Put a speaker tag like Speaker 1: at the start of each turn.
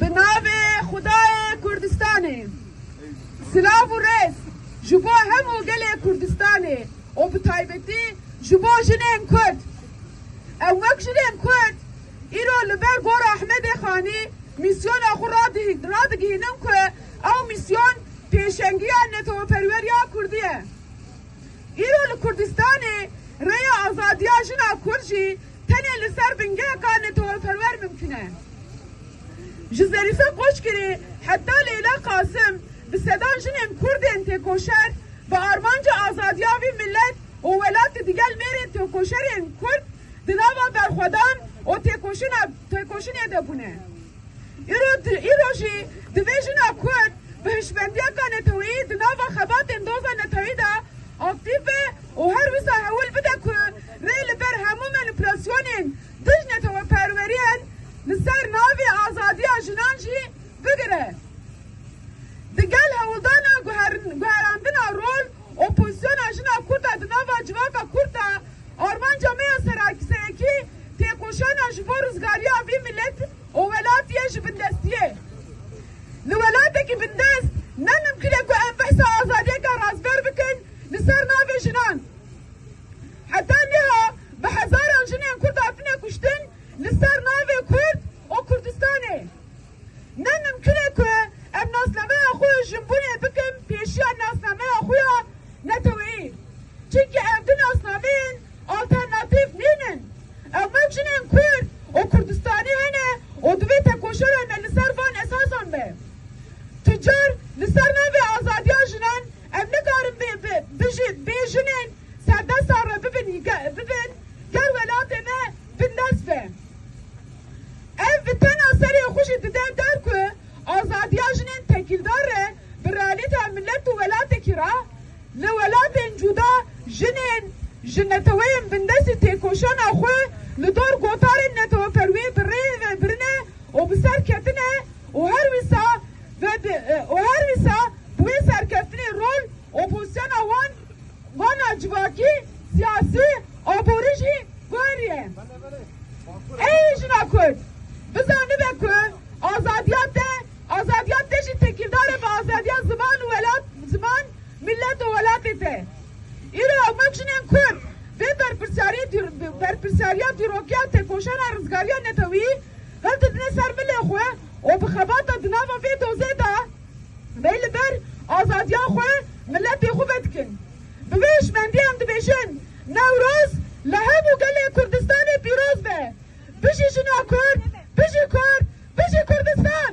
Speaker 1: Bi navê Xwedayê Kurdistanê. Silav û rêz ji bo hemû gelê Kurdistanê û bi taybetî ji bo jinên Kurd. Em wek jinên Kurd îro li ber Gora Ahmedê Xanî mîsyona xwe radigihînin ku ew mîsyon pêşengiya neteweperweriya Kurdî ye. Îro li Kurdistanê rêya azadiya jina Kurd jî Tenê li ser bingeheka netewperwer mimkun e. Ji Zerîfe Koçgirê heta Leyla Qasim bi sedan jinên kurd ên têkoşer bi armanca azadiya vî milet û welatê digel mêrên têkoşerên kurd di nava berxwedan û têkoşinê de bûne. Îro jî divê jina kurd bi hişmendiyeka neteweyî di nava xebatên doza neteweyî de aktîf be û her wisa hewil bide ku Rê li ber hemû manîpulasyonên dij neteweperweriyen li ser navê azadiya jinan jî bigire. Di gel hewldana guherandina rol û pozîsyona jina kurd a di nava civaka kurd de, armanca me ya serekî têkoşana ji bo rizgariya vî milet û welatî ye ji bindestî ye. Li welatekî bindest ne mimkîn e ku em behsa azadiyeke rastber bikin li ser navê jinan. Heta niha bi hezaran jinên Kurd hatine kuştin li ser navê Kurd û Kurdistanê. Ne mimkun e ku em nasnameya xwe ya jinbûnê bikin pêşiya nasnameya xwe ya neteweyî. Çimkî ev du nasnameyên alternatîf nînin. Ewmek jinên Kurd û Kurdistanê hene û divê tekoşera me li ser van esasan be. Tu car li ser navê azadiya jinan Ev nikarin bê bi bijîn bê jinên serdestan re bibin bibin ger welatê me bi nes be. Ev bi tena serê xwe jî dide der ku azadiya jinên tekîldar re bi realîteya milet û welatekî re li welatên cuda jinên ji neteweyên bindestî têkoşana xwe li dor gotarên neteweperwiyê bi rê ve birine û bi ser ketine û her wisa Vedi û her wisa bi wê serkeftinê rol û fonksiyona wan wana civakî, siyasî, aborî jî guherîye. Ey jina kurd bizanibe ku azadiya te azadiya te jî tekîldar e bi azadiya ziman û welat ziman, mîllet û welatê te. Îro hewmak jinên kurd vê berpirsyarî berpirsyariya dîrokiya tekoşana rizgariya netewî hildidine ser milê xwe û bi xebata di nava vê dozê de vê li ber azadiya xwe miletê xwe vedikin. Bi vê hişmendiyê em dibêjin Newroz li hemû gelê Kurdistanê pîroz be. Bijî jina Kurd, bijî Kurd, bijî Kurdistan!